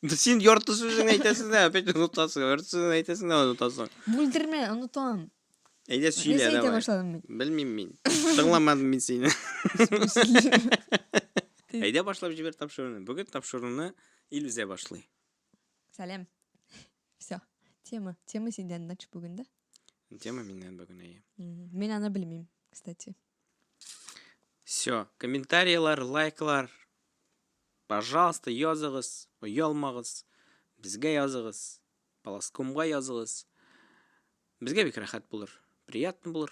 Син ярты сүзен әйтәсең дә, опять онытасың. Ярты сүзен әйтәсең дә онытасың. Бүлдермә, онытам. Әйдә сөйлә, Нәрсә әйтә давай. башладым мин? Белмим мин. Тыңламадым мин сине. Әйдә башлап җибәр тапшыруны. Бүген тапшыруны ил үзә башлый. Сәлам. Все. Тема. Тема синдән нач бүген дә. Тема миннән бүген әйе. Мгм. Мин аны белмим, кстати. Все. Комментариялар, лайклар. Пожалуйста, языгыз, оялмагыз. Безгә языгыз. Паласкомга языгыз. Безгә бик рәхәт булыр. Приятно булыр.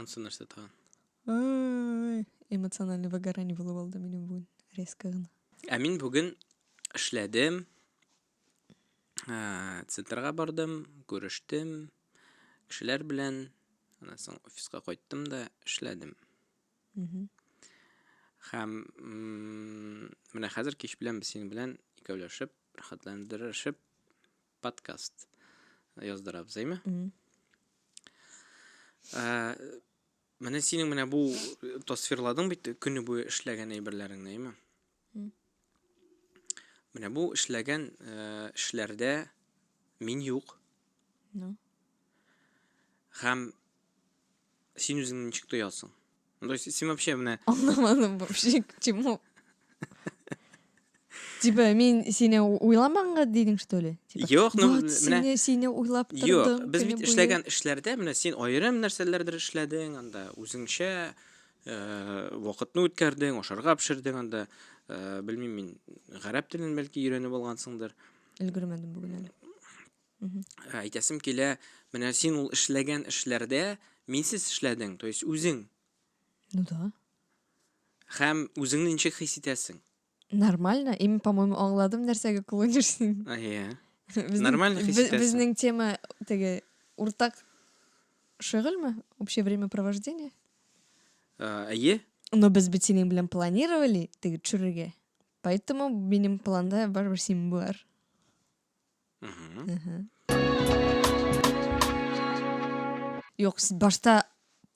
Ансы нәрсә тагын? Ай, эмоциональный выгорание булып алды минем бүген резко гына. Ә мин бүген эшләдем, ә, центрга бардым, күрештем, кешеләр белән, аннан соң офиска кайттым да эшләдем. Мгм. Һәм м, менә хәзер кич белән без синең белән икәүләшеп, рәхәтләндерешеп подкаст яздырабыз, әйме? Ә, менә синең менә бу тасвирладың бит көне буе эшләгән әйберләреңне, әйме? Менә бу эшләгән э, эшләрдә мин юк. Ну. Һәм Син үзеңне ничек тоясың? Ну, то есть, син вообще менә... Аңламадым вообще, к чему. Типа, мин сине уйламанга дидең, что ли? Типа, Юк, ну, вот, менә... сине, сине уйлап тордым. Юк, без бит эшләгән эшләрдә, менә син аерым нәрсәләрдер эшләдең, анда үзеңчә э, вакытны үткәрдең, ашарга пешердең анда. Э, белмим мин, гарәп телен бәлки өйрәнеп алгансыңдыр. Өлгермәдем бүген әле. Мгм. Ә, Әйтәсем килә, менә син ул эшләгән эшләрдә минсез эшләдең, то есть үзең. Ну да. Һәм үзеңне ничек хис итәсең? Нормально. И, мин, по-моему, аңладым, нәрсәгә клонишь син. А, Иә. Безнең- Нормально хис бе- итәсең. Безнең тема теге уртак шөгыльме? Общее времяпровождение? Ә, Әйе. Но без бит синең белән планировали теге төшерергә. Поэтому минем планда барыбер син бар. Юк, сез башта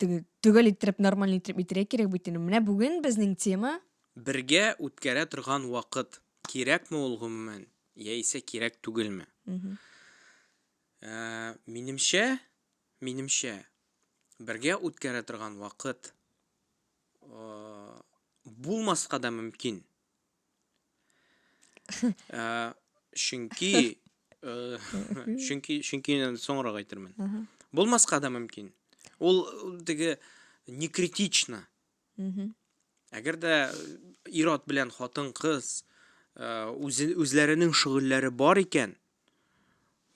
теге төгәл иттереп, нормаль иттереп әйтергә кирәк бит инде. Менә бүген безнең тема Бергә үткәрә торган вакыт кирәкме ул гомумән, яисә кирәк түгелме? Мгм. Ә, минемчә, минемчә, бергә үткәрә торган вакыт э, булмаска да мөмкин. Ә, чөнки э, чөнки чөнки инде соңрак әйтермен. Булмаска да мөмкин. Ул ул теге не критично. Мгм. Әгәр дә ир-ат белән хатын-кыз э, үзе- үзләренең шөгыльләре бар икән,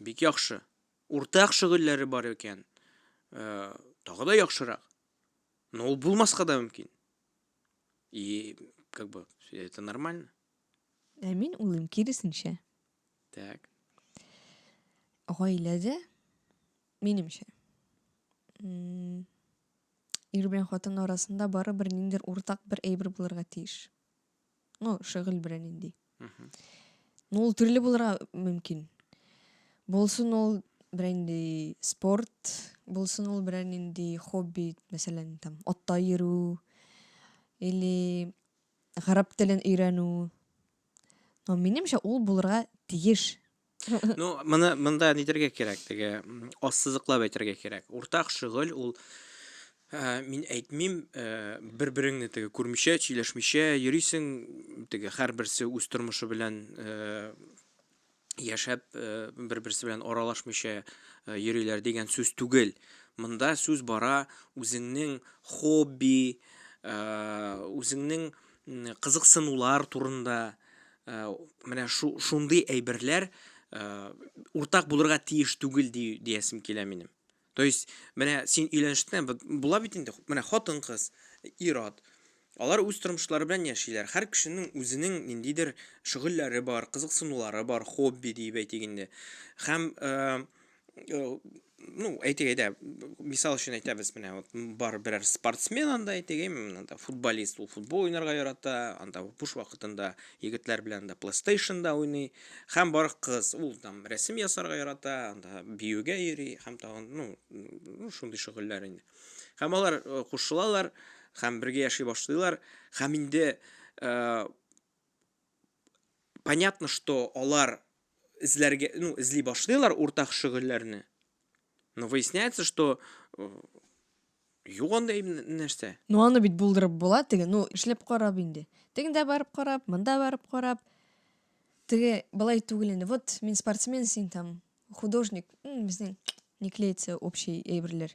бик яхшы. Уртак шөгыльләре бар икән, э, тагы да яхшырак. Но ул булмаска да мөмкин. И как бы это нормально. Ә мин уйлыйм киресенчә. Так. Гаиләдә минемчә ир белән хатын арасында барыбер ниндидер уртак бер әйбер булырга тиеш. Ну, шөгыль белән инде. Ну, ул төрле булырга мөмкин. Булсын ул белән инде спорт, булсын ул белән инде хобби, мәсәлән, там атта йөрү или гарәп телен өйрәнү. Но минемчә ул булырга тиеш. Ну, моны монда нидергә кирәк, теге ассызыклап әйтергә кирәк. Уртак шөгыль ул Ә, мин әйтмим, ә, бер-береңне теге күрмичә, сөйләшмичә йөрисең, теге һәрберсе үз тормышы белән ә, яшәп, ә, бер-берсе белән аралашмыйча ә, йөриләр дигән сүз түгел. Монда сүз бара үзеңнең хобби, ә, үзеңнең кызыксынулар турында, Ә, менә шу, шундый әйберләр ә, уртак булырга тиеш түгел ди, диясем килә минем. То есть, менә син өйләнештә була бит инде, менә хатын кыз, ират. Алар үз тормышлары белән яшиләр. Һәр кешенең үзенең ниндидер шөгыльләре бар, кызыксынулары бар, хобби диеп әйтик инде. Һәм э, ну әйтик әйдә мисал өчен әйтәбез менә вот бар берәр спортсмен анда әйтик анда футболист ул футбол уйнарга ярата анда буш вакытында егетләр белән анда плейстейшнда уйный һәм бар кыз ул там рәсем ясарга ярата анда биюгә йөри һәм тагын ну ну шундый шөгыльләр инде һәм алар э, кушылалар һәм бергә яши башлыйлар һәм инде э, понятно, что алар эзләргә, ну, эзли башлыйлар уртак шөгыльләрне. Но выясняется, что э, юк андый нәрсә. Ну, аны бит булдырып була, теге, ну, эшләп карап инде. Тегендә барып карап, монда барып карап. Теге былай түгел инде. Вот мин спортсмен, син там художник. Безнең не клеится общий әйберләр.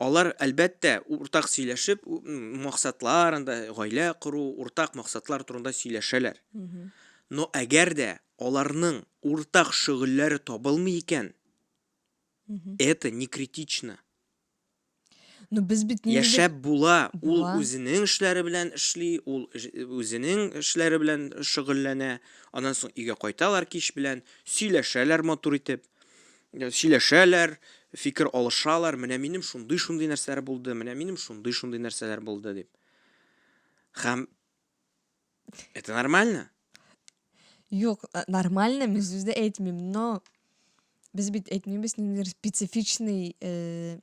Алар, әлбәттә, уртак сөйләшеп, максатлар, анда гаилә кору, уртак максатлар турында сөйләшәләр. Но әгәр дә аларның уртак шөгыльләре табылмый икән, это не критично. Ну, без бит нинди Яшәп була, ул Була. үзенең эшләре белән эшли, ул эш- үзенең эшләре белән шөгыльләнә. Аннан соң өйгә кайталар кич белән, сөйләшәләр матур итеп. сөйләшәләр, фикер алышалар, менә минем шундый-шундый нәрсәләр булды, менә минем шундый-шундый нәрсәләр булды дип. Хәм это нормально? Юк, нормально, мин сүз дә әйтмим, но без бит әйтмибез ниндидер специфичный э,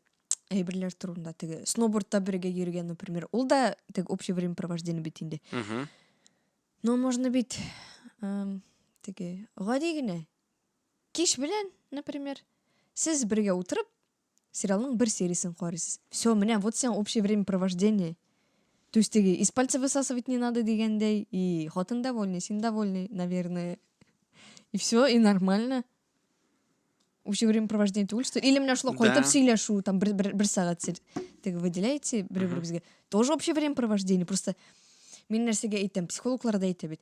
әйберләр турында теге сноубордта бергә йөргән например ул да теге общее времяпровождение бит инде но можно бит эм, теге гади генә Кич белән, например, сез бергә утырып, сериалның бер сериясен карыйсыз. Все, менә вот сиңа общее времяпровождение. То есть теге из пальца высасывать не надо дигәндәй, и хатын довольный, син довольный, наверное. И все, и нормально. Общее времяпровождение түгел, что... Или менә шулай кайтып сөйләшү, там бер, бер, бер сәгать сез теге выделяете бер беребезгә. Тоже общее времяпровождение, просто мин нәрсәгә әйтәм, психологлар да әйтә бит.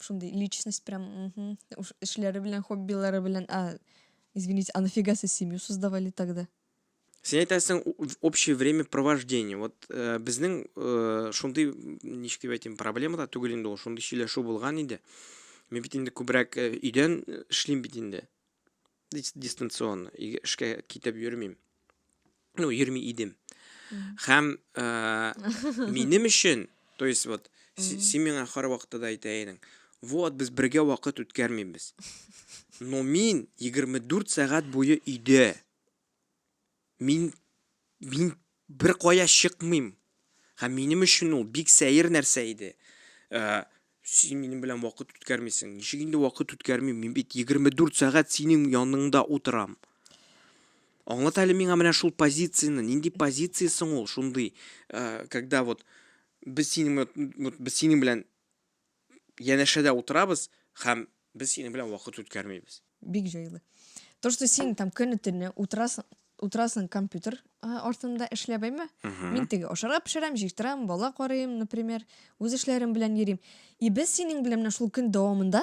шундый личность прям угу. уж эшләре белән хоббилары белән а извините а нафига сез семью создавали тогда сен әйтәсең общее время провождения вот ә, э, безнең ә, э, шундый ничек дип әйтим проблема да түгел инде ул шундый сөйләшү булган иде мен бит инде күбрәк өйдән эшлим бит инде дистанцион эшкә китеп йөрмим ну йөрми идем һәм ә, минем өчен то есть вот син миңа һәрвакытта да әйтә идең вот без бергә вакыт үткәрмибез но мин 24 сәгать буе өйдә Мин, мин беркая чыкмыйм. Һәм минем өчен ул бик сәер нәрсә иде. Ә, син минем белән вакыт үткәрмисең. Ничек инде вакыт үткәрмим? Мин бит 24 сәгать синең яныңда утырам. Аңлат әле миңа менә шул позицияне. Нинди позиция соң ул шундый, ә, когда вот без синең, вот, без синең белән янәшәдә утырабыз һәм без синең белән вакыт үткәрмибез. Бик җайлы. То, что син там көне-төне утырасың, утырасың компьютер а, артында эшләп, әйме? Мгм. Мин теге ашарга пешерәм, җыештырам, бала карыйм, например, үз эшләрем белән йөрим. И без синең белән менә шул көн дәвамында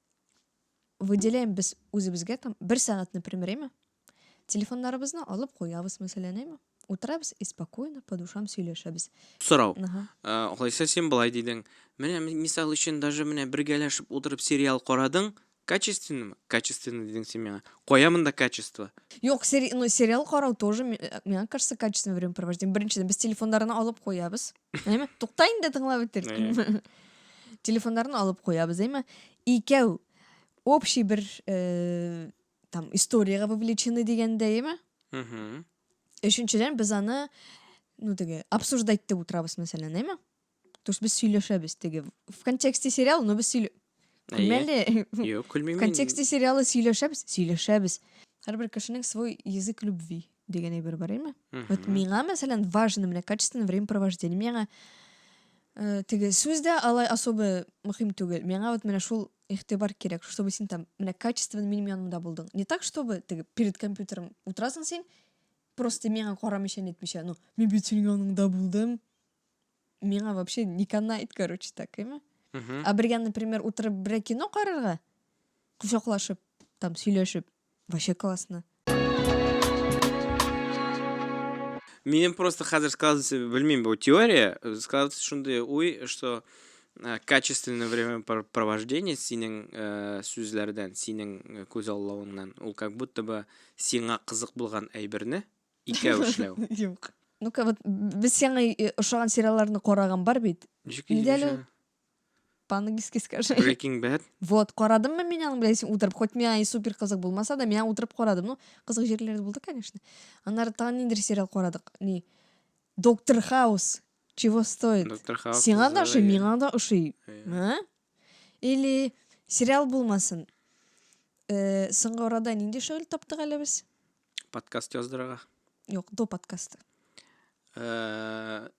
Выделяем без үзебезгә там бер сәгать, например, әйме? Телефоннарыбызны алып куябыз, мәсәлән, әйме? Утырабыз и спокойно по душам сөйләшәбез. Сорау. Ага. Алайса син былай дидең. Менә мисал өчен даже менә бергәләшеп утырып сериал карадың, качественныймы? Качественно дидең син миңа. Кая монда качество? Юк, сери, ну, сериал карау тоже, миңа кажется, качественное времяпровождение. Беренчедән, без телефоннарны алып куябыз. Әйме? Тукта инде тыңлап бетер. Әйе. Телефоннарны алып куябыз, әйме? Икәү общий бер э, там историягә вовлечены дигәндә, әйме? Мгм. Өченчедән без аны ну теге обсуждать итеп утырабыз, мәсәлән, әйме? То есть без сөйләшәбез теге в контексте сериал, но без сөйлә... Әйе. Күлмәле. Юк, В күлмим. мин. контексте сериалы сөйләшәбез, сөйләшәбез. Һәрбер кешенең свой язык любви. дигән әйбер бар име вот миңа мәсәлән важно менә качественное времяпровождение миңа э, теге сүз дә алай особо мөһим түгел миңа вот менә шул игътибар кирәк чтобы син там менә качественно минем янымда булдың не так чтобы теге перед компьютером утырасың син просто миңа карамыйча нетмичә ну мин бит синең яныңда булдым миңа вообще не канает короче так эме а бергә например утырып бергә кино карарга кочаклашып там сөйләшеп Вообще классно. Минем просто хәзер складывается, белмим, бу теория, складывается шундый уй, что э, качественное времяпровождение синең э, сүзләрдән, синең э, күз аллавыңнан, ул как будто бы сиңа кызык булган әйберне икәү эшләү. Юк. Ну-ка, вот без сиңа ошаган сериалларны караган бар бит. Ничек Нидә По-английски скажи. Breaking Bad. Вот, карадыммы мин аны, блядь, утырып. Хоть миңа и супер кызык булмаса да, миңа утырып карадым. Ну, кызык җирләре булды, конечно. Аннары тагын ниндер сериал карадык. Ни? Доктор Хаус. Чего стоит? Доктор Хаус. Сиңа да ошый, миңа да ошый. А? Или сериал булмасын. Э, соңгы арада нинди шөгыль таптык әле без? Подкаст яздырырга. Юк, до подкаста. Э,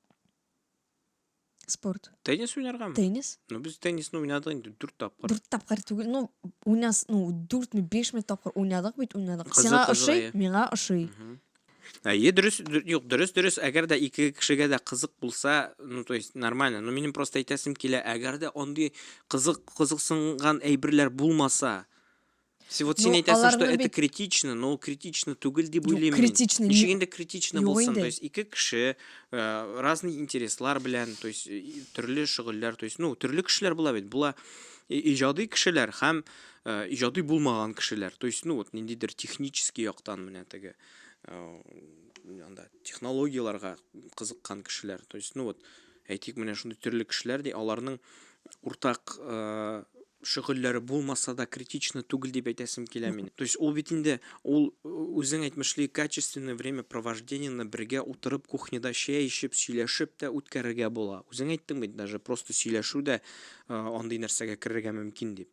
Спорт. Теннис уйнаргамы? Теннис. Ну, без теннисны уйнадык инде дүрт тапкыр. Дүрт тапкыр түгел, ну, уйнас, ну, дүртме, бешме тапкыр уйнадык бит, уйнадык. Кызык, Сиңа кызык, ошый, әйе. миңа ошый. Әйе, дөрес, дүр- юк, дөрес, дөрес. Әгәр дә ике кешегә дә кызык булса, ну, то есть, нормально. Но минем просто әйтәсем килә, әгәр дә андый кызык, кызыксынган әйберләр булмаса, Вот син әйтәсең, что это критично, но критично түгел дип уйлыйм. Критично. Ничек инде критично булсын? То есть ике кеше э, разный интереслар белән, то есть төрле шөгыльләр, то есть ну төрле кешеләр була бит. Була иҗади кешеләр һәм э, иҗади булмаган кешеләр. То есть ну вот ниндидер технический яктан менә теге э, анда технологияләргә кызыккан кешеләр. То есть ну вот әйтик, менә шундый төрле кешеләр, ди, аларның уртак шөгыльләре булмаса да критично түгел дип әйтәсем килә мин. То есть ул бит инде ул үзең әйтмешли качественное время провождениены бергә утырып кухняда чәй эчеп, сөйләшеп тә үткәрергә була. Үзең әйттең бит даже просто сөйләшү дә андый нәрсәгә керергә мөмкин дип.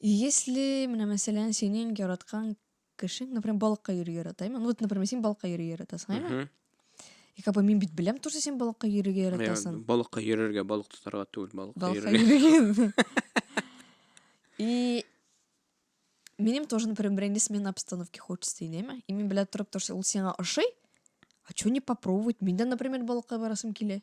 Если, менә мәсәлән, синең яраткан кешең, например, балыкка йөрергә ярата, әйме? Ну, вот, например, син балыкка йөрергә яратасың, әйме? Мгм. И как бы мин бит беләм тоже син балыкка йөрергә Мен яратасың. балыкка йөрергә, балык тотарга түгел, балыкка Балыкка йөрергә. йөрергә. И минем тоже, например, берәнди смена обстановки хочется дин, әйме? И мин белә торып, то, что ул сиңа ошый, а чё не попробовать? Мин дә, например, балыкка барасым килә.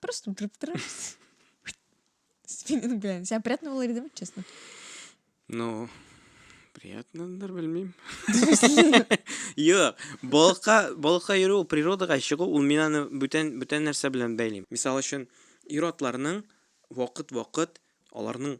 Просто спиннинг белән. Сиңа приятно булыр идеме, честно? Ну, приятнадыр, белмим. Юк, балыкка, балыкка йөрү, природага чыгу, ул мин аны бүтән, бүтән нәрсә белән бәйлим. Мисал өчен, ир-атларның вакыт-вакыт Аларның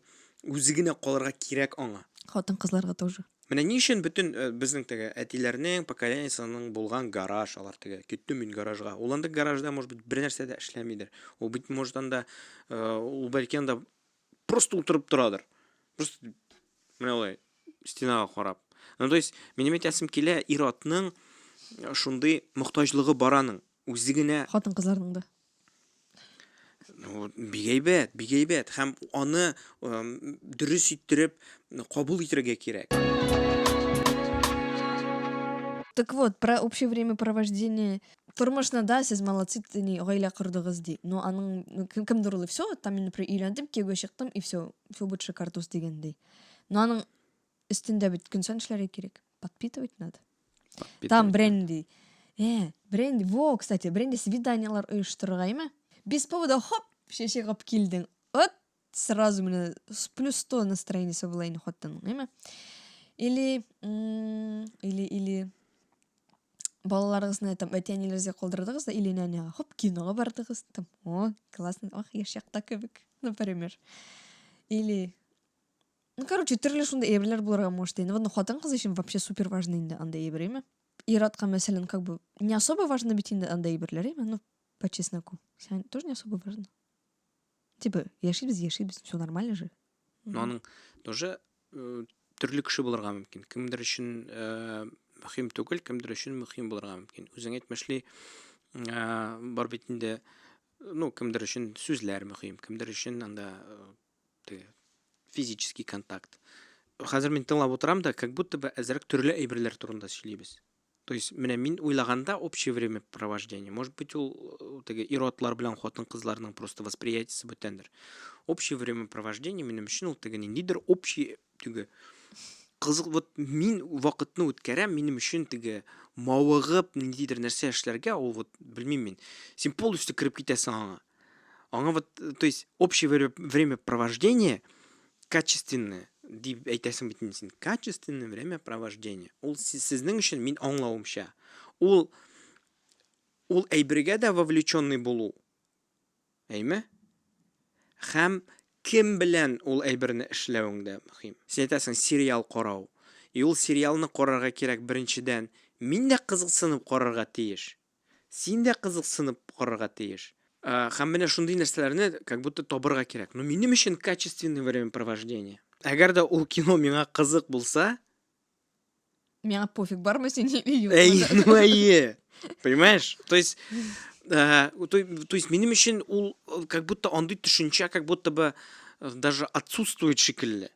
үзе генә калырга кирәк аңа. Хатын-кызларга тоже. Менә ни өчен бөтен э, безнең теге әтиләрнең поколениясының булган гараж алар теге китте мин гаражга. Ул анда гаражда может быть бер нәрсә дә эшләмидер. Ул бит может анда э, ул бәлки анда просто утырып торадыр. Просто менә алай стенага карап. Ну то есть минем әйтәсем килә ир-атның э, шундый мохтаҗлыгы бараның. Үзе генә хатын-кызларның да. Ну, бик әйбәт, бик әйбәт һәм аны дөрес иттереп кабул итәргә кирәк. Так вот, про общее время провождения тормышны да сез молодцы тени гаилә кордыгыз ди но аның кемдер ул все там мин например өйләндем кияүгә чыктым и все все будет шикардос дигәндәй но аның өстендә бит көн саен эшләргә кирәк подпитывать надо там бренди э бренди во кстати бренди свиданиялар оештырырга ме без повода хоп шеше кылып килдең вот сразу менә с плюс сто настроениесе була инде хатынның әйме или или или балаларыгызны там әти әниләрегезгә калдырдыгыз да или нәнәгә хоп кинога бардыгыз там о классно ах яшь якта кебек например или Ну, короче, төрле шундай әйберләр булырга может инде. Вон хатын-кыз өчен вообще супер важно инде андай әйбер, әйме? Иратка, мәсәлән, как бы не особо важно бит инде андай әйберләр, әйме? Ну, по чесноку. Сиңа тоже не особо важно. Типа, яшибез, яшибез, все нормально же. Ну, аның тоже э, төрле кеше булырга мөмкин. Кемдер өчен э, мөһим түгел, кемдер өчен мөһим булырга мөмкин. Үзең әйтмешли, э, бар бит инде, ну, кемдер өчен сүзләр мөһим, кемдер өчен анда э, теге физический контакт хәзер мин тыңлап утырам да как будто бы әзерәк төрле әйберләр турында сөйлибез то есть менә мин уйлаганда общее время провождения может быть ул э, теге иротлар белән хатын кызларның просто восприятиесе бүтәндер общее время провождения минем өчен ул теге ниндидер общий теге кызык вот мин вакытны үткәрәм минем өчен теге мавыгып ниндидер нәрсә эшләргә ул вот белмим мин син полностью кереп китәсең аңа аңа вот то есть общее время провождения качественное дип әйтәсең бит инде син качественное время провождения ул сезнең өчен мин аңлавымча ул ул әйбергә дә вовлеченный булу Әйме? Хәм кем белән ул әйберне эшләвең дә мөхим. Син әйтәсең, сериал карау. И ул сериалны карарга кирәк беренчедән, мин дә кызыксынып карарга тиеш. Син дә кызыксынып карарга тиеш. Хәм менә шундый нәрсәләрне как будто табырга кирәк. Ну минем өчен качественный времяпровождение. Әгәр дә ул кино миңа кызык булса, Миңа пофиг, бармы син или юк. Әй, ну әйе. Понимаешь? То есть, э, то, то есть минем өчен ул э, как будто андый төшенчә как будто бы э, даже отсутствует шикелле.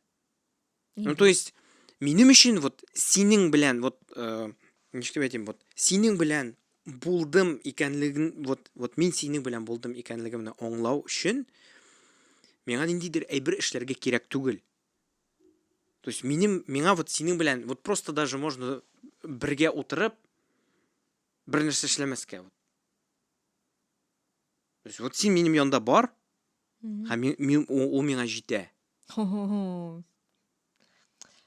Ну, то есть, минем өчен вот синең белән вот э, ничек әйтим, вот синең белән булдым икәнлеген, вот вот мин синең белән булдым икәнлегемне аңлау өчен миңа ниндидер әйбер эшләргә кирәк түгел. То есть минем, миңа вот синең белән, вот просто даже можно бергә утырып, бер нәрсә эшләмәскә. Вот. То есть вот син минем янда бар, һәм мин, мин, ул миңа җитә.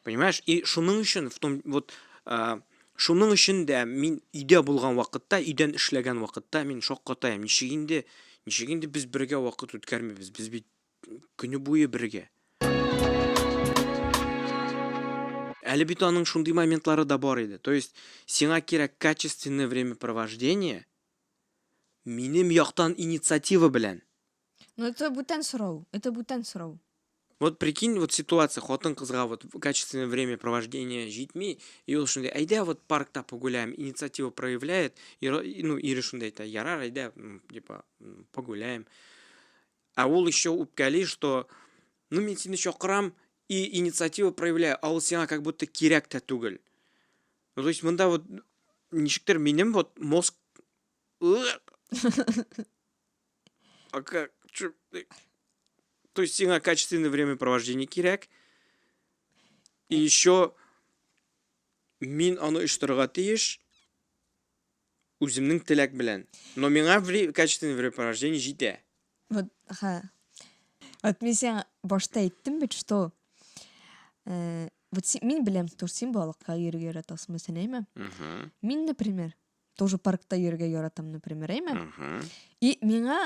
Понимаешь? И шуның өчен, в том, вот, э, шуның өчен дә мин өйдә булган вакытта, өйдән эшләгән вакытта мин шаккатаем. Ничек инде, ничек инде без бергә вакыт үткәрмибез? Без бит көне буе бергә. Әле бит аның шундый моментлары да бар иде. То есть, сиңа кирәк качественное времяпровождение, минем яктан инициатива белән. Ну это бүтән сорау, это бүтән сорау. Вот прикинь, вот ситуация, хатын кызга вот качественное время провождения житми, и он шундай, айда вот паркта погуляем, инициатива проявляет, и, ну, или шундай, это ярар, айда, типа, погуляем. Ә ул еще үпкәли, что ну мин сине чакырам и инициатива проявляю, а ул сиңа как будто кирәк тә түгел. Ну, то есть монда вот ничектер минем вот мозг А как? Чё? То есть сиңа качественное времяпровождение кирәк. И еще мин аны оештырырга тиеш. Үземнең теләк белән. Но миңа вре качественный времяпровождение җитә. Вот, ха. Вот мин сиңа башта әйттем бит, что э, вот син, мин беләм, что син балыкка йөрергә яратасың, мәсәлән, әйме? Мгм. Мин, например, тоже паркта йөрергә яратам, например, әйме? Мгм. И миңа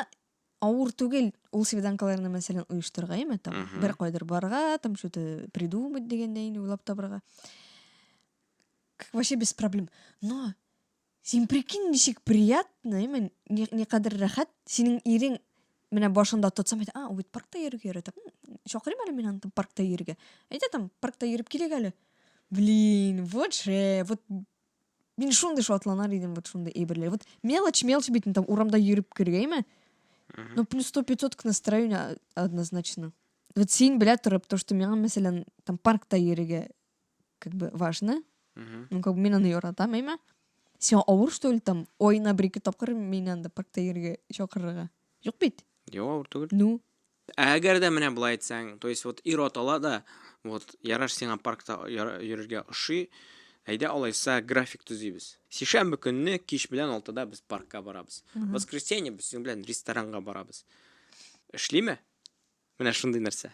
авыр түгел ул свиданкаларны мәсәлән оештырырга яме там mm -hmm. бер кайдыр барырга там что то придумать дигәндәй инде уйлап табырга вообще без проблем но син прикинь ничек приятно яме никадәр рәхәт синең ирең менә башында тотсам әйтә а ул бит паркта йөрергә ярата чакырыйм әле мин аны там паркта йөрергә әйдә там паркта йөреп килик әле блин вот же вот Мин шундый шатланар идем вот шундый әйберләр. Вот мелочь, мелочь бит, там урамда йөреп кергәйме? Ну, плюс 100-500 к настроению однозначно. Вот син белә торып, то, что миңа, мәсәлән, там паркта йөрергә как бы важно. Ну, как бы мин аны яратам, әйме? Сиңа авыр, что ли, там, ой, на бер-ике тапкыр мине анда паркта йөрергә чакырырга? Юк бит? Юк, авыр түгел. Ну, Ә әгәр дә менә болай әйтсәң, то есть вот ирот ала да, вот яраш сиңа паркта йөрергә ошый, әйдә алайса график төзибез. Сишәмбе көнне кич белән 6-да без паркка барабыз. Воскресенье без синең белән ресторанга барабыз. Эшлиме? Менә шундый нәрсә.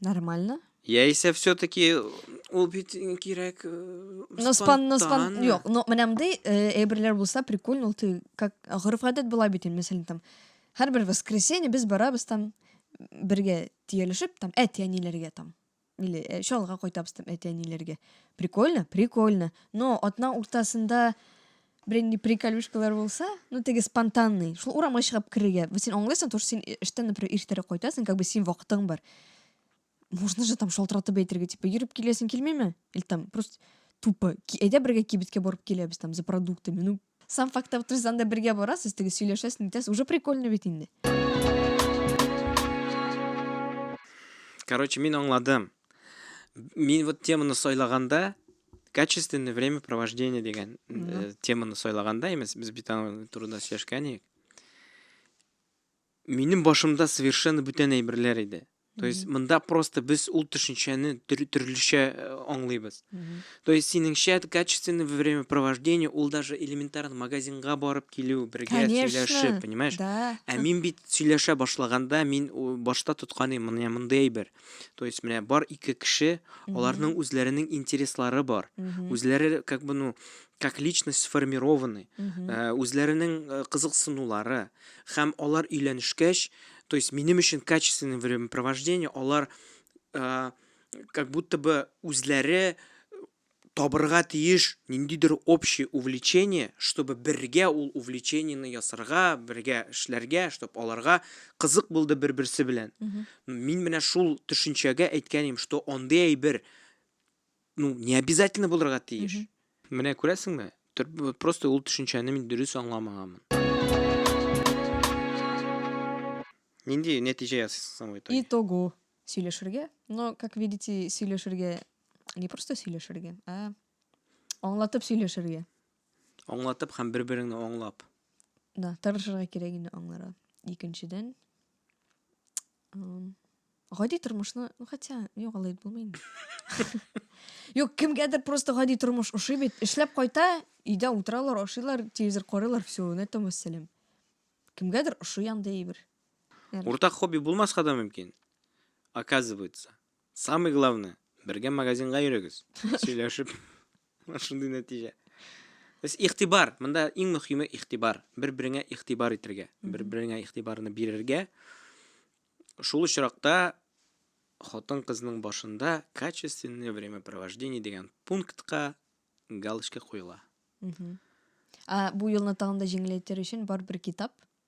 Нормально. Яисә все-таки ул бит кирәк э, Но спан, но спан, спонтанно. юк, но менә мондый э, әйберләр булса прикольно, ул ты как гореф гадәт була бит инде, мәсәлән, там һәрбер воскресенье без барабыз там бергә тиялешеп, там әти-әниләргә там или э, чалга кайтабыз там әти-әниләргә. Прикольно, прикольно. Но атна уртасында Беренди приколюшкалар булса, ну теге спонтанный, шул урамга чыгып керергә. Бу син аңлыйсың, то син эштән, например, иртәрәк кайтасың, как бы син вакытың бар. Можно же там шалтыратып әйтергә, типа, йөреп киләсең килмиме? Или там просто тупо, әйдә бергә кибеткә барып киләбез там за продуктами. Ну, сам факт авториздан да бергә барасыз, теге сөйләшәсең, итәсез, уже прикольно бит инде. Короче, мин аңладым. Мин вот теманы сайлаганда, Качественное время провождения дигән э, теманы сайлаганда имес, без бит аның турында сөйләшкән идек. Минем башымда совершенно бүтән әйберләр иде. То есть монда просто без ул төшенчәне төр- төрлечә э, аңлыйбыз. То есть синеңчә качественное время провождения ул даже элементарно магазинга барып килү, бергә Конечно. сөйләшеп, понимаешь? Да. Ә мин бит сөйләшә башлаганда мин у- башта тотканым менә мондый әйбер. То есть менә бар ике кеше, аларның үзләренең интереслары бар. Үзләре как бы ну как личность сформированы, э, үзләренең э, кызыксынулары һәм алар өйләнешкәч, то есть минем өчен качественное времяпровождение, алар э, как будто бы үзләре табырга тиеш ниндидер общий увлечение, чтобы бергә ул увлечениене ясарга, бергә эшләргә, чтоб аларга кызык булды бер-берсе белән. Ну, мин менә шул төшенчәгә әйткән идем, что андый әйбер, ну, не обязательно булырга тиеш. Менә күрәсеңме, просто ул төшенчәне мин дөрес аңламаганмын. Нинди нәтиҗә ясыйсың соң в итоге? Итогу. сөйләшергә. Но, как видите, сөйләшергә не просто сөйләшергә, а аңлатып сөйләшергә. Аңлатып һәм бер-береңне аңлап. Да, тырышырга кирәк инде аңларга. Икенчедән, гади тормышны, ну хотя, юк, алай булмый инде. Юк, кемгәдер просто гади тормыш ошый бит. Эшләп кайта, өйдә утыралар, ашыйлар, телевизор карыйлар, все, на этом вәссәлам. Кемгәдер ошый андый әйбер. Уртак хобби булмаска да мөмкин. Оказывается. Самый главное, бергә магазинга йөрегез. Сөйләшеп. Шундый нәтиҗә. Без ихтибар, монда иң мөхиме ихтибар. Бер-береңә ихтибар итергә, бер-береңә ихтибарны бирергә. Шул очракта хатын кызның башында качественное времяпровождение дигән пунктка галочка куела. Ә бу юлны тагын да җиңеләйтер өчен бар бер китап